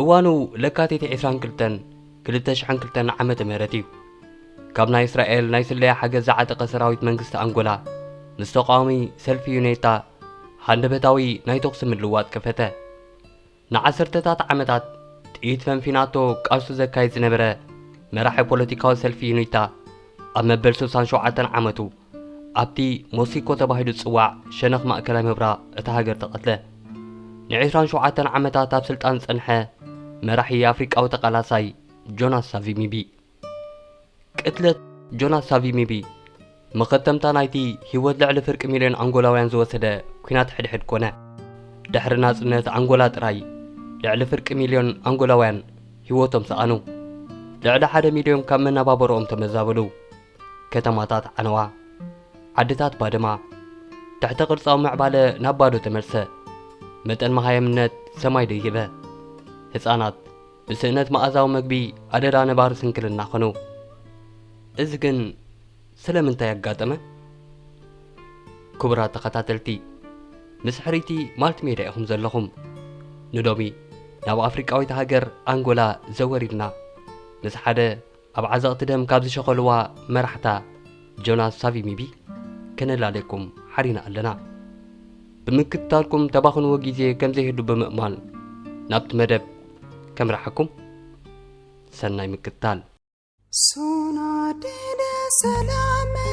እዋኑ ለካቲት 22 2002 ዓመተ ምህረት እዩ ካብ ናይ እስራኤል ናይ ስለያ ሓገዝ ዝዓጠቐ ሰራዊት መንግስቲ ኣንጎላ ምስ ተቃዋሚ ሰልፊ ዩኔታ ሃንደበታዊ ናይ ተኹሲ ምልዋጥ ከፈተ ንዓሰርተታት ዓመታት ጥይት ፈንፊናቶ ቃልሱ ዘካይድ ዝነበረ መራሒ ፖለቲካዊ ሰልፊ ዩኒታ ኣብ መበል ስሳን ሸውዓተን ዓመቱ ኣብቲ ሞሲኮ ተባሂሉ ዝጽዋዕ ሸነኽ ማእከላይ ምብራ እታ ሃገር ተቐትለ። ንዕስራን ሸውዓተን ዓመታት ኣብ ስልጣን ዝጸንሐ መራሒ ኣፍሪቃዊ ተቓላሳይ ጆናስ ሳቪሚቢ። ቅትለት ጆናስ ሳቪሚቢ መኸተምታ ናይቲ ህይወት ልዕሊ ፍርቂ ሚልዮን ኣንጎላውያን ዝወሰደ ኲናት ሕድሕድ ኮነ። ድሕሪ ናጽነት ኣንጎላ ጥራይ ልዕሊ ፍርቂ ሚልዮን ኣንጎላውያን ህይወቶም ሰኣኑ። ልዕሊ ሓደ ሚልዮን ካብ መነባበሮኦም ተመዛበሉ። ከተማታት ዓነዋ፣ ዓድታት ባደማ፣ ትሕተ ቅርጻዊ ምዕባለ ናብ ባዶ ተመልሰ። መጠን መሃየምነት ሰማይ ደይበ። ህጻናት ብስእነት መኣዛዊ መግቢ ኣደዳ ነባሪ ስንክልና ኾኑ። እዚ ግን ስለምንታይ ኣጋጠመ? ክቡራት ተኸታተልቲ፣ ምስ ሕርይቲ ማልቲሜድያ ኢኹም ዘለኹም። ንሎሚ ናብ ኣፍሪቃዊት ሃገር ኣንጎላ ዘወር ኢልና ምስ ሓደ ኣብ ዓዘቕቲ ደም ካብ ዝሸኸልዋ መራሕታ ጆናስ ሳቪሚቢ ከነላልየኩም ሓሪና ኣለና። ብምክትታልኩም ተባኽንዎ ግዜ ከም ዘይህሉ ብምእማን ናብቲ መደብ ከምርሓኩም ሰናይ ምክትታል። Sona dine selame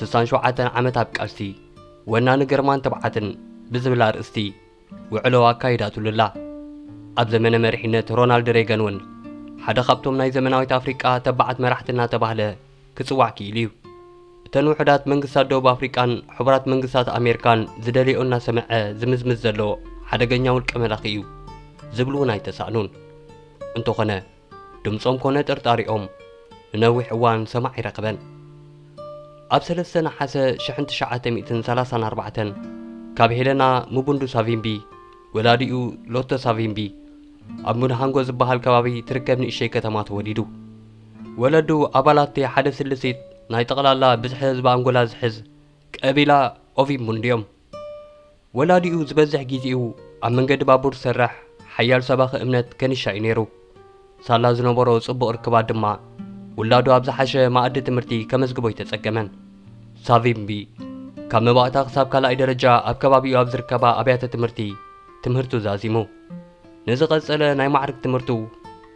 ስሳን ሸውዓተን ዓመት ኣብ ቃልሲ፣ ወናኒ ግርማን ትብዓትን ብዝብል ኣርእስቲ ውዕሎ ኣካይዳትሉ ኣላ። ኣብ ዘመነ መሪሕነት ሮናልድ ሬገን እውን ሓደ ካብቶም ናይ ዘመናዊት ኣፍሪቃ ተባዓት መራሕቲ እናተባህለ ክጽዋዕ ክኢሉ እዩ። እተን ውሑዳት መንግስታት ደቡብ ኣፍሪቃን ሕቡራት መንግስታት ኣሜርካን ዝደልየኦ እናሰመዐ ዝምዝምዝ ዘሎ ሓደገኛ ውልቀ መላኺ እዩ ዝብሉ እውን ኣይተሳእኑን። እንተኾነ ድምጾም ኮነ ጥርጣሪኦም ንነዊሕ እዋን ሰማዒ ኣይረኸበን። ኣብ ሰለስተ ነሓሰ ሽሕን ትሽዓተ ሚእትን ሰላሳን ኣርባዕተን ካብ ሄለና ሙቡንዱ ሳቪምቢ፣ ወላዲኡ ሎቶ ሳቪምቢ፣ ኣብ ሙንሃንጎ ዝበሃል ከባቢ ትርከብ ንእሽተይ ከተማ ተወሊዱ። ወለዱ ኣባላት'ቲ ሓደ ስልሲት ናይ ጠቕላላ ብዝሒ ህዝቢ ኣንጎላ ዝሕዝ ቀቢላ ኦቪምቡንዱ'ዮም። ወላዲኡ ዝበዝሕ ግዜኡ ኣብ መንገዲ ባቡር ዝሰርሕ ሓያል ሰባኺ እምነት ከኒሻ እዩ ነይሩ። ሳላ ዝነበሮ ጽቡቕ ርክባት ድማ ውላዱ ኣብ ዝሓሸ መኣዲ ትምህርቲ ከመዝግቦ ኣይተጸገመን። ሳቪምቢ ካብ መባእታ ክሳብ ካልኣይ ደረጃ ኣብ ከባቢኡ ኣብ ዝርከባ ኣብያተ ትምህርቲ ትምህርቱ ዛዚሙ። ንዝቐጸለ ናይ ማዕርግ ትምህርቱ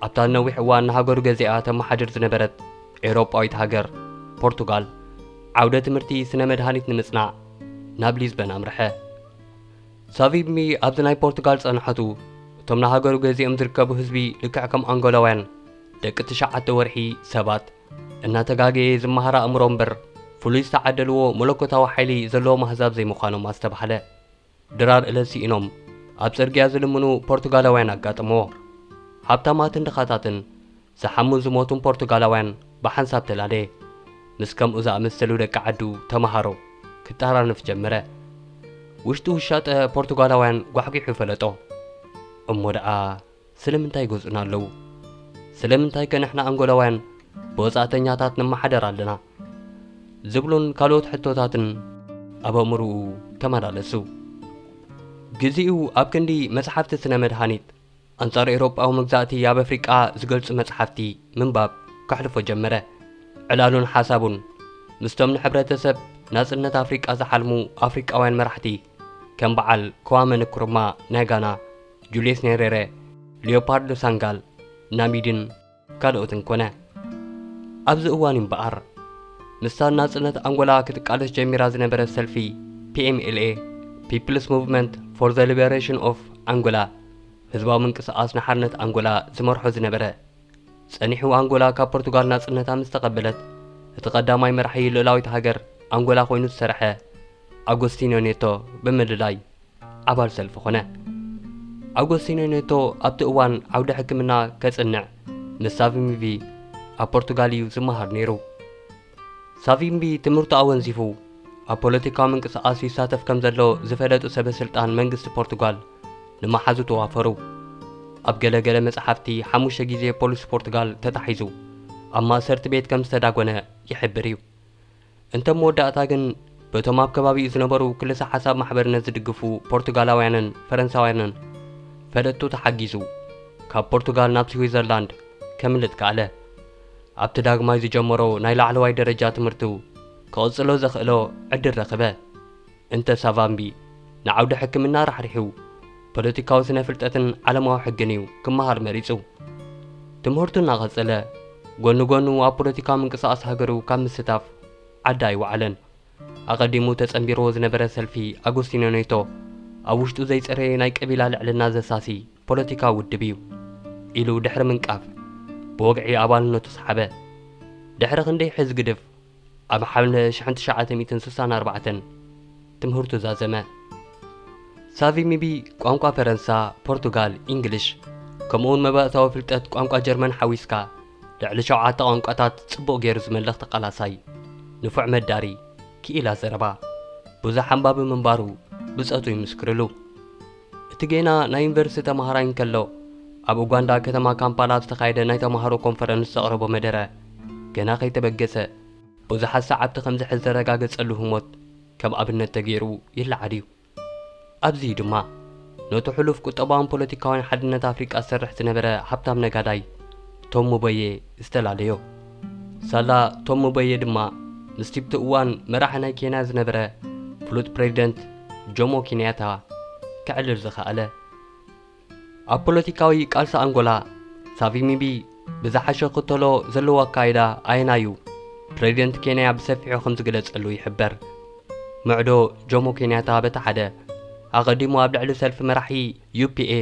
ኣብታ ንነዊሕ እዋን ንሃገሩ ገዚኣ ተመሓድር ዝነበረት ኤውሮጳዊት ሃገር ፖርቱጋል ዓውደ ትምህርቲ ስነ መድሃኒት ንምጽናዕ ናብ ሊዝበን ኣምርሐ። ሳቪብሚ ኣብዚ ናይ ፖርቱጋል ጸንሖቱ እቶም ንሃገሩ ገዚኦም ዝርከቡ ህዝቢ ልክዕ ከም ኣንጎላውያን ደቂ ትሽዓተ ወርሒ ሰባት እናተጋገየ ዝመሃር ኣእምሮ እምበር ፍሉይ ዝተዓደልዎ መለኮታዊ ሓይሊ ዘለዎም ኣህዛብ ዘይምዃኖም ኣስተባህለ። ድራር እለት ስኢኖም ኣብ ጽርግያ ዝልምኑ ፖርቱጋላውያን ኣጋጠመዎ። ሃብታማትን ድኻታትን ዝሓሙን ዝሞቱን ፖርቱጋላውያን ብሓንሳብ ተላለየ። ምስ ከምኡ ዝኣመሰሉ ደቂ ዓዱ ተመሃሮ ክጠራነፍ ጀመረ። ውሽጢ ውሻጠ ፖርቱጋላውያን ጓሕጒሑ ፈለጦ። እሞ ደኣ ስለምንታይ ይገዝኡና ኣለዉ? ስለምንታይከ ንሕና ኣንጎላውያን ብወጻእተኛታት ንመሓደር ኣለና? ዝብሉን ካልኦት ሕቶታትን ኣብ ኣእምሮኡ ተመላለሱ። ግዜኡ ኣብ ክንዲ መጽሓፍቲ ስነ-መድሃኒት፣ ኣንጻር ኤውሮጳዊ መግዛእቲ ኣብ ኣፍሪቃ ዝገልጹ መጽሓፍቲ ምንባብ ከሕልፎ ጀመረ። ዕላሉን ሓሳቡን ምስቶም ንሕብረተሰብ ናጽነት ኣፍሪቃ ዝሓልሙ ኣፍሪቃውያን መራሕቲ ከም በዓል ክዋመ ንክሩማ ናይ ጋና፣ ጁልየስ ኔሬረ፣ ሊዮፓርዶ ሳንጋል፣ ናሚድን፣ ካልኦትን ኮነ። ኣብዚ እዋን እዩ እምበኣር፣ ምስታ ንናጽነት ኣንጎላ ክትቃለስ ጀሚራ ዝነበረት ሰልፊ PMLA፣ People's Movement for the Liberation of Angola፣ ህዝባዊ ምንቅስቓስ ንሓርነት ኣንጎላ፣ ዝመርሖ ዝነበረ። ጸኒሑ ኣንጎላ ካብ ፖርቱጋል ናጽነታ ምስ ተቐበለት፣ እቲ ቀዳማይ መራሒ ልኡላዊት ሃገር ኣንጎላ ኮይኑ ዝሰርሐ፣ ኣጎስቲንዮ ኔቶ ብምልላይ ኣባል ሰልፊ ኾነ። ኣጎስቲንዮ ኔቶ ኣብቲ እዋን ዓውዲ ሕክምና ከጽንዕ ምስ ሳቪምቢ ኣብ ፖርቱጋል እዩ ዝመሃር ነይሩ። ሳቪምቢ ትምህርቱ ኣወንዚፉ ኣብ ፖለቲካዊ ምንቅስቓስ ይሳተፍ ከም ዘሎ ዝፈለጡ ሰበ ስልጣን መንግስቲ ፖርቱጋል ንመሓዙ ተዋፈሩ። ኣብ ገለ ገለ መጽሓፍቲ ሓሙሽተ ግዜ ፖሊስ ፖርቱጋል ተታሒዙ ኣብ ማእሰርቲ ቤት ከም ዝተዳጎነ ይሕብር እዩ። እንተ መወዳእታ ግን በቶም ኣብ ከባቢኡ ዝነበሩ ክልሰ-ሓሳብ ማሕበርነት ዝድግፉ ፖርቱጋላውያንን ፈረንሳውያንን ፈለጥቱ ተሓጊዙ ካብ ፖርቱጋል ናብ ስዊዘርላንድ ከምልጥ ከኣለ። ኣብቲ ዳግማይ ዝጀመሮ ናይ ላዕለዋይ ደረጃ ትምህርቱ ክቕጽሎ ዘኽእሎ ዕድል ረኽበ። እንተ ሳቫምቢ ንዓውዲ ሕክምና ራሕሪሑ፣ ፖለቲካዊ ስነ-ፍልጠትን ዓለማዊ ሕግን እዩ ክመሃር መሪጹ። ትምህርቱ እናቐጸለ፣ ጎኒ ጎኑ ኣብ ፖለቲካዊ ምንቅስቓስ ሃገሩ ካብ ምስታፍ ዓዲ ኣይወዓለን። ኣቐዲሙ ተጸንቢርዎ ዝነበረ ሰልፊ ኣጎስቲኖ ኔቶ፣ ኣብ ውሽጡ ዘይጸረየ ናይ ቀቢላ ልዕልና ዘሳሲ ፖለቲካዊ ውድብ እዩ ኢሉ ድሕሪ ምንቃፍ፣ ብወግዒ ኣባልነቱ ሰሓበ። ድሕሪ ክንደይ ሕዝግድፍ፣ ኣብ ሓምለ ሽሕን ትሽዓተ ሚእትን ስሳን ኣርባዕተን ትምህርቱ ዛዘመ። ሳቪ ሚቢ ቋንቋ ፈረንሳ፣ ፖርቱጋል፣ ኢንግሊሽ ከምኡውን መባእታዊ ፍልጠት ቋንቋ ጀርመን ሓዊስካ ልዕሊ ሸውዓተ ቋንቋታት ጽቡቕ ገይሩ ዝመልኽ ተቓላሳይ፣ ንፉዕ መዳሪ፣ ክኢላ ዘረባ፣ ብዙሕ ኣንባቢ ምንባሩ ብጾቱ ይምስክርሉ። እቲ ጌና ናይ ዩኒቨርሲቲ ተማሃራይ እንከሎ፣ ኣብ ኡጋንዳ ከተማ ካምፓላ ኣብ ዝተኻየደ ናይ ተማሃሮ ኮንፈረንስ ዘቕረቦ መደረ፣ ገና ከይተበገሰ፣ ብዙሓት ሰዓብቲ ከም ዝሕዝ ዘረጋገጸሉ ህሞት ከም ኣብነት ተጌሩ ይለዓል እዩ። ኣብዚ እዩ ድማ፣ ነቱ ሕሉፍ ቁጠባውን ፖለቲካውያን ሓድነት ኣፍሪቃ ዝሰርሕ ዝነበረ ሃብታም ነጋዳይ ቶም ሙበየ ዝተላለዮ። ሳላ ቶም ሙበየ ድማ ምስቲብቲ እዋን መራሒ ናይ ኬንያ ዝነበረ ፍሉጥ ፕሬዚደንት ጆሞ ኪንያታ ከዕልል ዝኸኣለ። ኣብ ፖለቲካዊ ቃልሲ ኣንጎላ ሳቪሚቢ ብዝሓሸ ክተሎ ዘለዎ ኣካይዳ ኣየናዩ ፕሬዚደንት ኬንያ ብሰፊሑ ከም ዝግለጸሉ ይሕበር። ምዕዶ ጆሞ ኬንያታ በቲ ሓደ ኣቐዲሙ ኣብ ልዕሊ ሰልፊ መራሒ ዩፒኤ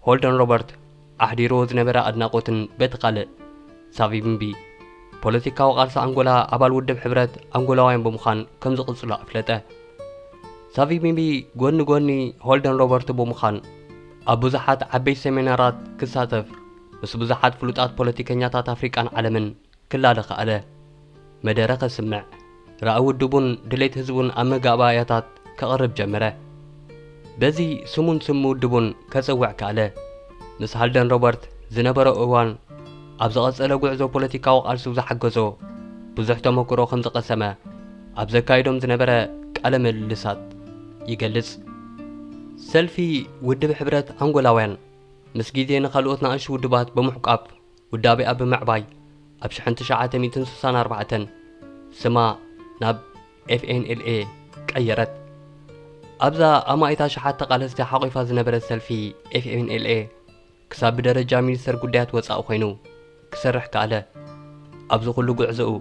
ሆልደን ሮበርት ኣሕዲርዎ ዝነበረ ኣድናቖትን በቲ ካልእ ሳቪምቢ ፖለቲካዊ ቃልሲ ኣንጎላ ኣባል ውድብ ሕብረት ኣንጎላውያን ብምዃን ከም ዝቕጽሎ ኣፍለጠ። ሳቪምቢ ጎኒ ጎኒ ሆልደን ሮበርቶ ብምዃን ኣብ ብዙሓት ዓበይቲ ሰሚናራት ክሳተፍ ምስ ብዙሓት ፍሉጣት ፖለቲከኛታት ኣፍሪቃን ዓለምን ክላለ ከኣለ። መደረ ከስምዕ፣ ራኢ ውድቡን ድሌት ህዝቡን ኣብ መጋባእያታት ከቕርብ ጀመረ። በዚ ስሙን ስም ውድቡን ከጽውዕ ከኣለ። ምስ ሃልደን ሮበርት ዝነበሮ እዋን ኣብ ዝቐጸለ ጉዕዞ ፖለቲካዊ ቃልሱ ዝሓገዞ ብዙሕ ተመኩሮ ከም ዝቐሰመ ኣብ ዘካይዶም ዝነበረ ቃለ ምልልሳት ይገልጽ። ሰልፊ ውድብ ሕብረት ኣንጎላውያን ምስ ግዜ ንካልኦት ናእሽቱ ውድባት ብምሕቋፍ፣ ውዳቤኣ ብምዕባይ ኣብ ሽሕን ትሽዓተ ሚእትን ስሳን ኣርባዕተን ስማ ናብ FNLA ቀየረት። ኣብዛ ኣማኢት ኣሽሓት ተቓለስቲ ሓቝፋ ዝነበረት ሰልፊ FNLA ክሳብ ብደረጃ ሚኒስተር ጉዳያት ወጻኢ ኮይኑ ክሰርሕ ከኣለ። ኣብዚ ኩሉ ጉዕዞኡ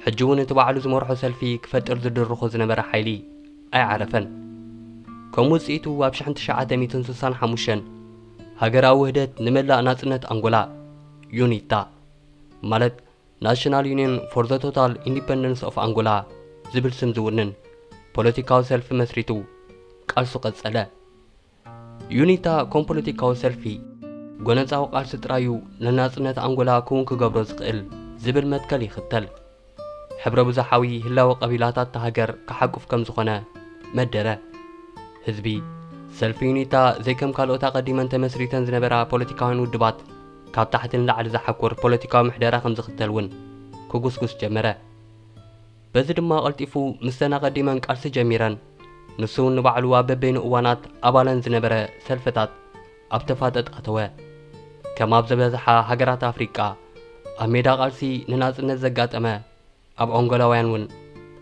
ሕጂ እውን እቲ ባዕሉ ዝመርሖ ሰልፊ ክፈጥር ዝድርኾ ዝነበረ ሓይሊ ኣይዓረፈን። ከም ውጽኢቱ ኣብ ሽሕን ትሽዓተ ሚእትን ስሳን ሓሙሽተን ሃገራዊ ውህደት ንመላእ ናጽነት ኣንጎላ፣ ዩኒታ፣ ማለት ናሽናል ዩኒየን ፎር ዘ ቶታል ኢንዲፐንደንስ ኦፍ ኣንጎላ ዝብል ስም ዝውንን ፖለቲካዊ ሰልፊ መስሪቱ ቃልሱ ቀጸለ። ዩኒታ ከም ፖለቲካዊ ሰልፊ ጎነጻዊ ቃልሲ ጥራይ'ዩ ንናጽነት ኣንጎላ ክውን ክገብሮ ዝኽእል ዝብል መትከል ይኽተል። ሕብረ ብዙሓዊ ህላወ ቀቢላታት እታ ሃገር ክሓቁፍ ከም ዝኾነ መደረ። ህዝቢ ሰልፊ ዩኒታ ዘይከም ካልኦት ኣቐዲመን ተመስሪተን ዝነበራ ፖለቲካውያን ውድባት ካብ ታሕቲ ንላዕሊ ዝሓኩር ፖለቲካዊ ምሕደራ ከም ዝኽተል እውን ክጉስጉስ ጀመረ። በዚ ድማ ቀልጢፉ ምስተን ኣቐዲመን ቃልሲ ጀሚረን ንሱ እውን ንባዕሉ ኣብ በበይኑ እዋናት ኣባለን ዝነበረ ሰልፍታት ኣብ ተፋጠጥ ኣተወ። ከም ኣብ ዝበዝሓ ሃገራት ኣፍሪቃ፣ ኣብ ሜዳ ቃልሲ ንናጽነት ዘጋጠመ፣ ኣብ ኣንጎላውያን እውን፣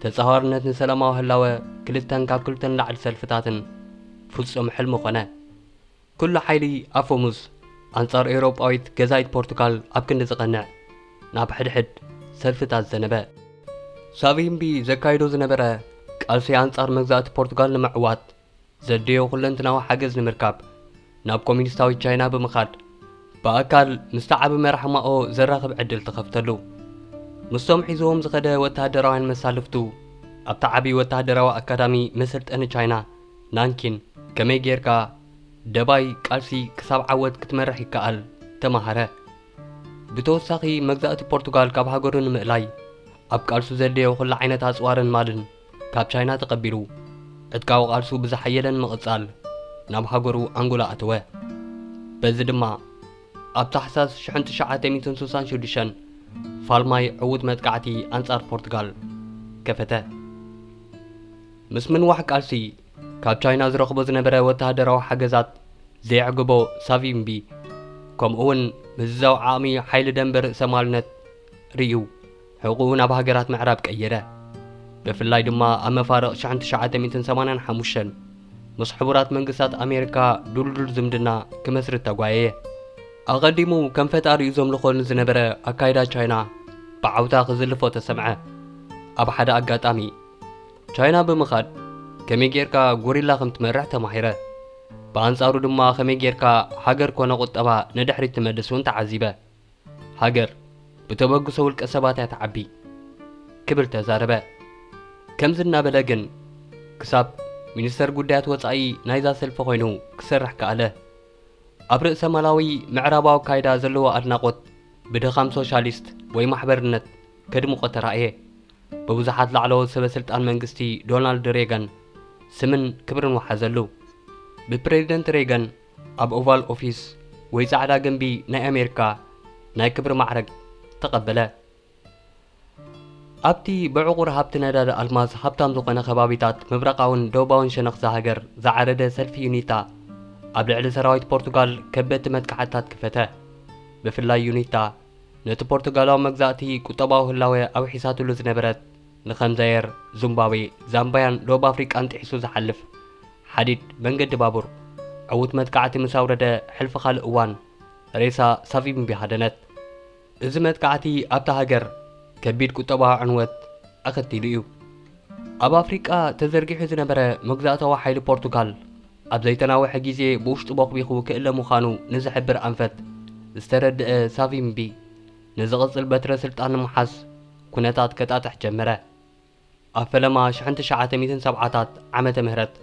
ተጻዋርነት ንሰላማዊ ህላወ ክልተን ካብ ክልተ ንላዕሊ ሰልፍታትን ፍጹም ሕልሚ ኮነ። ኩሉ ሓይሊ ኣፈሙዝ ኣንጻር ኤውሮጳዊት ገዛኢት ፖርቱጋል ኣብ ክንዲ ዝቐንዕ፣ ናብ ሕድሕድ ሰልፍታት ዘነበ። ሳቪምቢ ዘካይዶ ዝነበረ ቃልሲ ኣንጻር መግዛእቲ ፖርቱጋል ንምዕዋት፣ ዘድልዮ ኩለንትናዊ ሓገዝ ንምርካብ ናብ ኮሚኒስታዊት ቻይና ብምኻድ ብኣካል ምስቲ ዓቢ መራሒ ማኦ ዘራኽብ ዕድል ተኸፍተሉ። ምስቶም ሒዝዎም ዝኸደ ወተሃደራውያን መሳልፍቱ ኣብቲ ዓቢ ወተሃደራዊ ኣካዳሚ መሰልጠኒ ቻይና ናንኪን ከመይ ጌርካ ደባይ ቃልሲ ክሳብ ዓወት ክትመርሕ ይከኣል ተማሃረ። ብተወሳኺ መግዛእቲ ፖርቱጋል ካብ ሃገሩ ንምእላይ ኣብ ቃልሱ ዘድልዮ ኩሉ ዓይነት ኣጽዋርን ማልን ካብ ቻይና ተቐቢሉ ዕጥቃዊ ቃልሱ ብዝሓየለ ንምቕጻል ናብ ሃገሩ ኣንጎላ ኣተወ። በዚ ድማ ኣብ ታሕሳስ ሽሕን ትሽዓተ ሚእትን ስሳን ሽዱሽተን ፋልማይ ዕዉት መጥቃዕቲ ኣንጻር ፖርቱጋል ከፈተ። ምስ ምንዋሕ ቃልሲ ካብ ቻይና ዝረኽቦ ዝነበረ ወተሃደራዊ ሓገዛት ዘየዕገቦ ሳቪምቢ ከምኡ'ውን ምዝዛው ዓቕሚ ሓይሊ ደምበ ርእሰማልነት ርእዩ። ሕቕኡ ናብ ሃገራት ምዕራብ ቀየረ። ብፍላይ ድማ ኣብ መፋርቕ ሽሕን ትሽዓተ ሚእትን ሰማንያን ሓሙሽተን ምስ ሕቡራት መንግስታት ኣሜሪካ ድልዱል ዝምድና ክመስርት ተጓየየ። ኣቐዲሙ ከም ፈጣሪኡ ዘምልኾ ንዝነበረ ኣካይዳ ቻይና ብዓውታ ክዝልፎ ተሰምዐ። ኣብ ሓደ ኣጋጣሚ ቻይና ብምኻድ ከመይ ጌርካ ጎሪላ ከም ትመርሕ ተማሂረ። ብኣንጻሩ ድማ ከመይ ጌርካ ሃገር ኮነ ቁጠባ ንድሕሪት ትመልስ እውን ተዓዚበ። ሃገር ብተበግሶ ውልቀ ሰባት እያ ትዓቢ ክብል ተዛረበ። ከምዚ እናበለ ግን ክሳብ ሚኒስተር ጉዳያት ወጻኢ ናይዛ ሰልፊ ኮይኑ ክሰርሕ ከኣለ። ኣብ ርእሰማላዊ ምዕራባዊ ኣካይዳ ዘለዎ ኣድናቖት ብድኻም ሶሻሊስት ወይ ማሕበርነት ከድምቖ ተራእየ። ብብዙሓት ላዕለዎት ሰበስልጣን መንግስቲ ዶናልድ ሬገን ስምን ክብርን ወሓዘሉ። ብፕረዚደንት ሬገን ኣብ ኦቫል ኦፊስ ወይ ጻዕዳ ግምቢ ናይ ኣሜሪካ ናይ ክብሪ ማዕረግ ተቐበለ። ኣብቲ ብዕቑር ሃብቲ ነዳዲ ኣልማዝ ሃብታም ዝኾነ ከባቢታት ምብራቓውን ደቡባውን ሸነኽ እዛ ሃገር ዝዓረደ ሰልፊ ዩኒታ ኣብ ልዕሊ ሰራዊት ፖርቱጋል ከበድቲ መጥቃዕትታት ክፈተ። ብፍላይ ዩኒታ ነቲ ፖርቱጋላዊ መግዛእቲ ቁጠባዊ ህላወ ኣውሒሳትሉ ዝነበረት ንከም ዛየር፣ ዙምባብዌ፣ ዛምባያን ደቡብ ኣፍሪቃን ጥሒሱ ዝሓልፍ ሓዲድ መንገዲ ባቡር፣ ዕዉት መጥቃዕቲ ምስ ኣውረደ ሕልፊ ካልእ እዋን፣ ሬሳ ሳቪምቢ ሃደነት። እዚ መጥቃዕቲ ኣብታ ሃገር ከቢድ ቁጠባዊ ዕንወት ኣኸቲሉ እዩ። ኣብ ኣፍሪቃ ተዘርጊሑ ዝነበረ መግዛእታዊ ሓይሊ ፖርቱጋል፣ ኣብ ዘይተናውሐ ግዜ ብውሽጡ ቦኽቢኹ ክእለ ምዃኑ ንዝሕብር ኣንፈት ዝተረድኣ ሳቪምቢ፣ ንዝቕጽል በትረ ስልጣን ንምሓዝ ኩነታት ከጣጥሕ ጀመረ። ኣብ ፈለማ ሽሕን ትሽዓተ ሚእትን ሰብዓታት ዓመተ ምህረት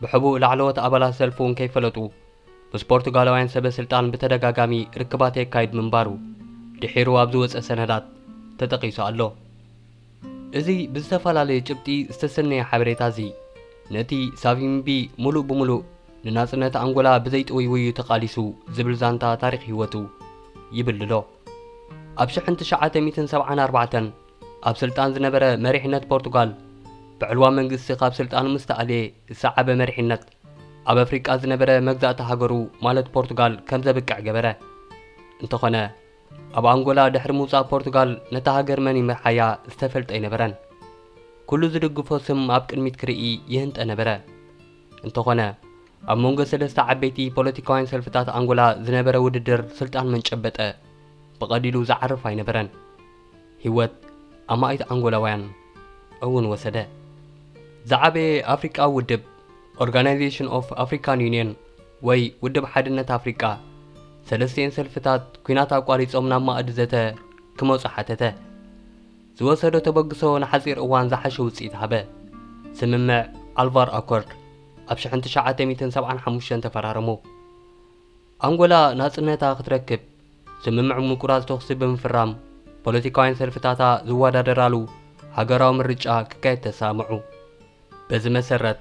ብሕቡእ ላዕለዎት ኣባላት ሰልፊ እውን ከይፈለጡ ምስ ፖርቱጋላውያን ሰበ ስልጣን ብተደጋጋሚ ርክባት የካይድ ምንባሩ ድሒሩ ኣብ ዝወጸ ሰነዳት ተጠቒሱ ኣሎ። እዚ ብዝተፈላለየ ጭብጢ ዝተሰነየ ሓበሬታ እዚ፣ ነቲ ሳቪምቢ ምሉእ ብምሉእ ንናጽነት ኣንጎላ ብዘይጥውይውዩ ተቓሊሱ ዝብል ዛንታ ታሪኽ ህይወቱ ይብልሎ። ኣብ ሽሕን ትሽዓተ ሚእትን ሰብዓን ኣርባዕተን ኣብ ስልጣን ዝነበረ መሪሕነት ፖርቱጋል፣ ብዕልዋ መንግስቲ ካብ ስልጣኑ ምስ ተኣልየ ዝሰዓበ መሪሕነት፣ ኣብ ኣፍሪቃ ዝነበረ መግዛእቲ ሃገሩ ማለት ፖርቱጋል ከም ዘብቅዕ ገበረ። እንተኾነ፣ ኣብ ኣንጎላ ድሕሪ ምውጻእ ፖርቱጋል ነታ ሃገር መን ይምርሓያ ዝተፈልጠ ኣይነበረን። ኩሉ ዝድግፎ ስም ኣብ ቅድሚት ክርኢ ይህንጠ ነበረ። እንተኾነ ኣብ መንጎ ሰለስተ ዓበይቲ ፖለቲካውያን ሰልፍታት ኣንጎላ ዝነበረ ውድድር ስልጣን መን ጨበጠ ብቐሊሉ ዝዓርፍ ኣይነበረን። ህይወት ኣማኢት ኣንጎላውያን እውን ወሰደ። ዝዓበየ ኣፍሪቃዊ ውድብ ኦርጋናይዜሽን ኦፍ ኣፍሪካን ዩኒየን ወይ ውድብ ሓድነት ኣፍሪቃ፣ ሰለስቲኤን ሰልፍታት ኲናት ኣቋሪጾም ናብ ማእዲ ዘተ ክመጹ ሓተተ። ዝወሰዶ ተበግሶ ንሓጺር እዋን ዝሓሸ ውጽኢት ሃበ። ስምምዕ ኣልቫር ኣኮርድ ኣብ ሽሕን ትሽዓተ ሚእትን ሰብዓን ሓሙሽተን ተፈራረሙ። ኣንጎላ ናጽነታ ክትረክብ ስምምዕ ምቁራጽ ተኹሲ ብምፍራም ፖለቲካውያን ሰልፍታታ ዝወዳደራሉ ሃገራዊ ምርጫ ክካየድ ተሰማምዑ። በዚ መሰረት፣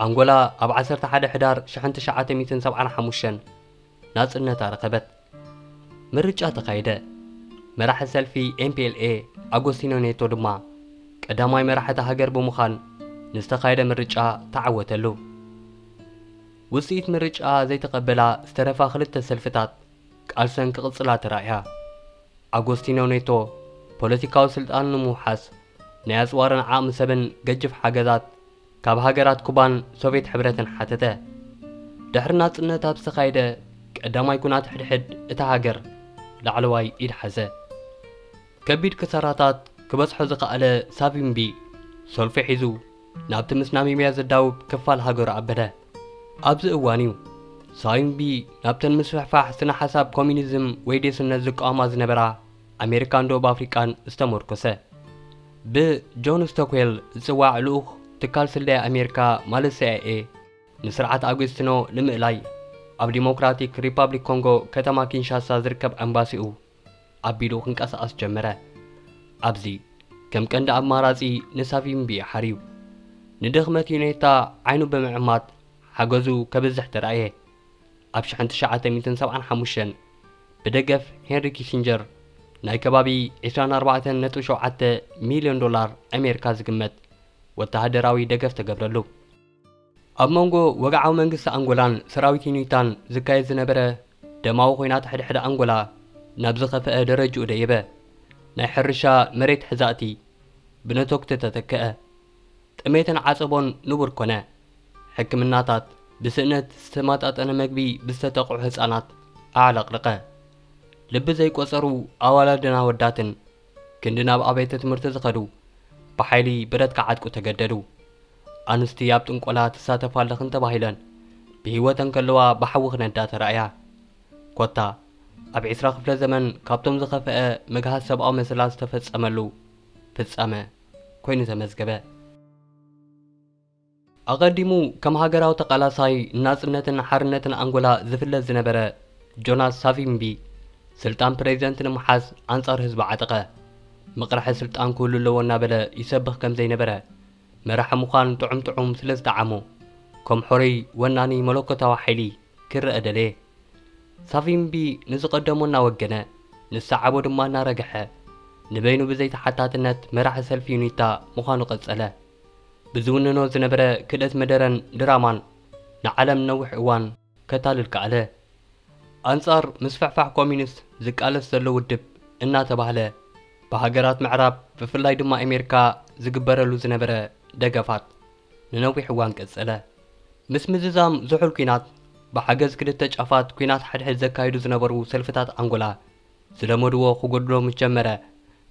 ኣንጎላ ኣብ ዓሰርተ ሓደ ሕዳር ሽሕን ትሽዓተ ሚእትን ሰብዓን ሓሙሽተን ናጽነታ ረኸበት። ምርጫ ተኻየደ፣ መራሒ ሰልፊ ኤምፒኤልኤ ኣጎስቲኖ ኔቶ ድማ ቀዳማይ መራሒ እታ ሃገር ብምዃን ንዝተኻየደ ምርጫ ተዓወተሉ። ውጽኢት ምርጫ ዘይተቐበላ ዝተረፋ ክልተ ሰልፍታት ቃልሰን ክቕጽላ ተራእያ። ኣጎስቲኖ ኔቶ ፖለቲካዊ ስልጣኑ ንምውሓስ ናይ ኣጽዋርን ዓቕሚ ሰብን ገጅፍ ሓገዛት ካብ ሃገራት ኩባን ሶቭየት ሕብረትን ሓተተ። ድሕሪ ናጽነት ኣብ ዝተኻየደ ቀዳማይ ኩናት ሕድሕድ እታ ሃገር ላዕለዋይ ኢድ ሓዘ። ከቢድ ክሳራታት ክበጽሖ ዝኸኣለ ሳቪምቢ ሰልፉ ሒዙ ናብቲ ምስ ናሚብያ ዘዳውብ ክፋል ሃገሩ ኣበለ። ኣብዚ እዋን'ዩ ሳቪምቢ ናብተን ምስፍሕፋሕ ስነ-ሓሳብ ኮሚኒዝም ወይ ዴስነት ዝቃወማ ዝነበራ ኣሜሪካን ደቡብ ኣፍሪቃን ዝተመርኮሰ ብ ጆን ስቶክዌል ዝጽዋዕ ልኡኽ ትካል ስለያ ኣሜሪካ ማለት ሲኣይኤ ንስርዓት ኣጉስቲኖ ንምእላይ ኣብ ዲሞክራቲክ ሪፓብሊክ ኮንጎ ከተማ ኪንሻሳ ዝርከብ ኣምባሲኡ ኣቢሉ ክንቀሳቐስ ጀመረ። ኣብዚ ከም ቀንዲ ኣማራጺ ንሳቪምቢ ሓርዩ ንድኽመት ዩኔታ ዓይኑ ብምዕማት ሓገዙ ከብዝሕ ተራእየ። ኣብ ሽሕን ትሽዓተ ሚእትን ሰብዓን ሓሙሽተን ብደገፍ ሄንሪ ኪሲንጀር ናይ ከባቢ ዕስራን ኣርባዕተን ነጥቢ ሸውዓተ ሚልዮን ዶላር ኣሜሪካ ዝግመት ወተሃደራዊ ደገፍ ተገብረሉ። ኣብ መንጎ ወግዓዊ መንግስቲ ኣንጎላን ሰራዊት ዩኒታን ዝካየድ ዝነበረ ደማዊ ኹናት ሕድሕድ ኣንጎላ ናብ ዝኸፈኣ ደረጅኡ ደየበ። ናይ ሕርሻ መሬት ሕዛእቲ ብነቶግቲ ተተከኣ። ጥሜትን ዓጸቦን ንቡር ኮነ። ሕክምናታት፣ ብስእነት ዝተማጣጠነ መግቢ ብዝተጠቕዑ ህጻናት ኣዕለቕልቐ። ልቢ ዘይቆጸሩ ኣዋላድን ኣወዳትን ክንዲ ናብ ኣቤተ ትምህርቲ ዝኸዱ ብሓይሊ ብረት ክዓጥቁ ተገደዱ። ኣንስቲ ኣብ ጥንቆላ ትሳተፋ ኣለኽን ተባሂለን ብህይወተን ከለዋ ብሓዊ ክነዳ ተራእያ። ኮታ ኣብ ዕስራ ክፍለ ዘመን ካብቶም ዝኸፈኣ ምግሃስ ሰብኣዊ መሰላት ዝተፈጸመሉ ፍጻመ ኮይኑ ተመዝገበ። ኣቐዲሙ ከም ሃገራዊ ተቓላሳይ ንናጽነትን ሓርነትን ኣንጎላ ዝፍለጥ ዝነበረ ጆናስ ሳቪምቢ፣ ስልጣን ፕረዚደንት ንምሓዝ ኣንጻር ህዝቢ ዓጠቐ። መቕርሒ ስልጣን ክህሉ ኣለዎ እናበለ ይሰብኽ ከም ዘይነበረ፣ መራሒ ምዃን ጥዑም ጥዑም ስለ ዝጠዓሞ፣ ከም ሖሮይ ወናኒ መለኮታዊ ሓይሊ ክረኣ ደለየ። ሳቪምቢ ንዝቐደሞ እናወገነ፣ ንዝሰዓቦ ድማ እናረገሐ፣ ንበይኑ ብዘይተሓታትነት መራሒ ሰልፊ ዩኒታ ምዃኑ ቀጸለ። ብዝውንኖ ዝነበረ ክእለት መደረን ድራማን ንዓለም ንነዊሕ እዋን ከታልል ከኣለ። ኣንጻር ምስፍሕፋሕ ኮሚኒስት ዝቃለስ ዘሎ ውድብ እናተባህለ ብሃገራት ምዕራብ ብፍላይ ድማ ኤሜርካ ዝግበረሉ ዝነበረ ደገፋት ንነዊሕ እዋን ቀጸለ። ምስ ምዝዛም ዝሑል ኩናት ብሓገዝ ክልተ ጫፋት ኩናት ሓድሕድ ዘካይዱ ዝነበሩ ሰልፍታት ኣንጎላ፣ ዝለመድዎ ክጎድሎ ምስ ጀመረ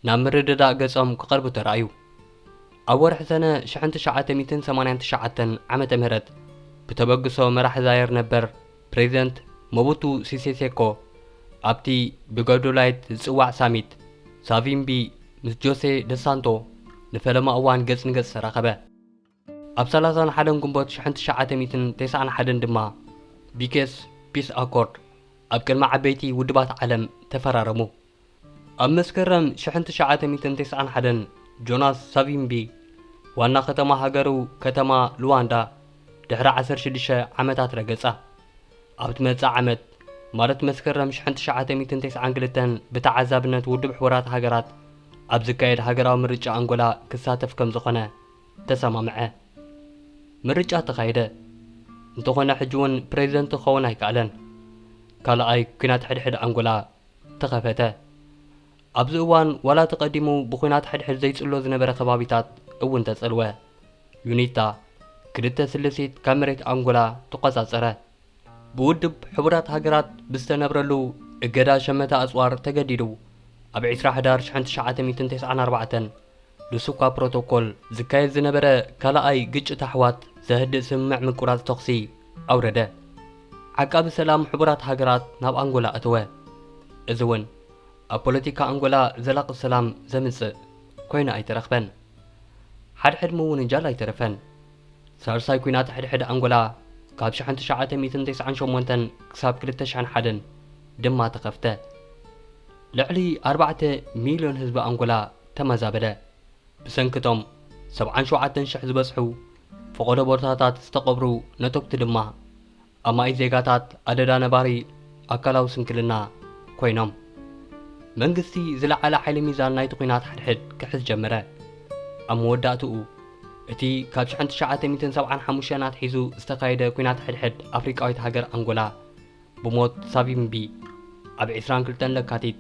ናብ ምርድዳእ ገጾም ክቐርቡ ተራእዩ። ኣብ ወርሒ ሰነ ሽሕን ትሽዓተ ሚእትን ሰማንያን ትሽዓተን ዓመተ ምህረት ብተበግሶ መራሒ ዛየር ነበር ፕሬዚደንት ሞቡቱ ሲሴ ሴኮ ኣብቲ ብገዶላይት ዝጽዋዕ ሳሚት ሳቪምቢ ምስ ጆሴ ደስ ሳንቶ ንፈለማ እዋን ገጽ ንገጽ ተራኸበ። ኣብ ሰላሳን ሓደን ግንቦት ሽሕን ትሽዓተ ሚእትን ተስዓን ሓደን ድማ ቢኬስ ፒስ ኣኮርድ ኣብ ቅድሚ ዓበይቲ ውድባት ዓለም ተፈራረሙ። ኣብ መስከረም ሽሕን ትሽዓተ ሚእትን ተስዓን ሓደን ጆናስ ሳቪምቢ ዋና ከተማ ሃገሩ ከተማ ሉዋንዳ ድሕሪ ዓሰርተ ሽዱሽተ ዓመታት ረገጻ። ኣብ ትመጽእ ዓመት ማለት መስከረም ሽሕን ትሽዓተ ሚእትን ተስዓን ክልተን ብተዓዛብነት ውድብ ሕቡራት ሃገራት ኣብ ዝካየድ ሃገራዊ ምርጫ ኣንጎላ ክሳተፍ ከም ዝኾነ ተሰማምዐ። ምርጫ ተኻየደ። እንተኾነ ሕጂ'ውን ፕረዚደንት ክኸውን ኣይከኣለን። ካልኣይ ኲናት ሕድሕድ ኣንጎላ ተኸፈተ። ኣብዚ እዋን ዋላ እቲ ቀዲሙ ብዂናት ሕድሕድ ዘይጽሎ ዝነበረ ከባቢታት እውን ተጸልወ። ዩኒታ፣ ክልተ ስልሲት ካብ መሬት ኣንጎላ ተቖጻጸረ። ብውድብ ሕቡራት ሃገራት ብዝተነብረሉ እገዳ ሸመተ ኣጽዋር ተገዲዱ ኣብ ዕስራ ሕዳር ሽሕን ትሽዓተ ሚእትን ተስዓን ኣርባዕተን ሉሱኳ ፕሮቶኮል ዝካየድ ዝነበረ ካልኣይ ግጭት ኣሕዋት ዘህድእ ስምምዕ ምቁራጽ ተኹሲ ኣውረደ። ዓቃቢ ሰላም ሕቡራት ሃገራት ናብ ኣንጎላ ኣተወ። እዚ'ውን ኣብ ፖለቲካ ኣንጎላ ዘላቒ ሰላም ዘምጽእ ኮይኑ ኣይተረኽበን። ሓድሕድ ምውንጃል ኣይተረፈን። ሳልሳይ ኲናት ሕድሕድ ኣንጎላ ካብ ሽሕን ትሽዓተ ሚእትን ተስዓን ሸሞንተን ክሳብ ክልተ ሽሕን ሓደን ድማ ተኸፍተ። ልዕሊ ኣርባዕተ ሚልዮን ህዝቢ ኣንጎላ ተመዛበለ። ብሰንኪ እቶም ሰብዓን ሸውዓተን ሽሕ ዝበጽሑ ፈቐዶ ቦታታት ዝተቐብሩ ነቶግቲ ድማ ኣማኢት ዜጋታት ኣደዳ ነባሪ ኣካላዊ ስንክልና ኮይኖም። መንግስቲ ዝለዓለ ሓይሊ ሚዛን ናይቲ ኲናት ሓድሕድ ክሕዝ ጀመረ። ኣብ መወዳእትኡ፣ እቲ ካብ ሽሕን ትሽዓተ ሚእትን ሰብዓን ሓሙሽተን ኣትሒዙ ዝተኻየደ ኲናት ሕድሕድ ኣፍሪቃዊት ሃገር ኣንጎላ ብሞት ሳቪምቢ ኣብ ዕስራን ክልተን ለካቲት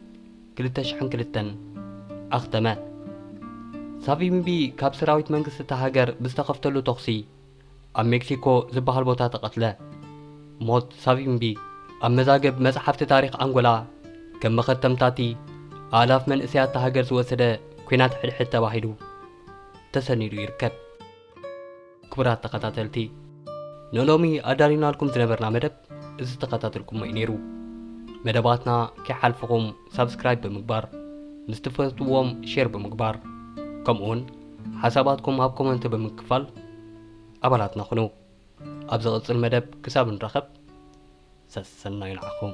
ክልተ ሽሕን ክልተን ኣኽተመ። ሳቪምቢ ካብ ሰራዊት መንግስቲ እታ ሃገር ብዝተኸፍተሉ ተኹሲ ኣብ ሜክሲኮ ዝበሃል ቦታ ተቐትለ። ሞት ሳቪምቢ ኣብ መዛግብ መጽሓፍቲ ታሪኽ ኣንጎላ ከም መኸተምታ'ቲ ኣእላፍ መንእሰያት'ታ ሃገር ዝወሰደ ኲናት ሕድሕድ ተባሂሉ ተሰኒዱ ይርከብ። ክቡራት ተኸታተልቲ ንሎሚ ኣዳሊናልኩም ዝነበርና መደብ እዚ ዝተኸታተልኩሞ'ዩ ነይሩ። መደባትና ከይሓልፍኹም ሳብስክራይብ ብምግባር ምስ ትፈትዎም ሼር ብምግባር ከምኡውን ሓሳባትኩም ኣብ ኮመንት ብምክፋል ኣባላትና ኩኑ። ኣብ ዝቕጽል መደብ ክሳብ ንራኸብ ሰሰናዩ ንዓኹም።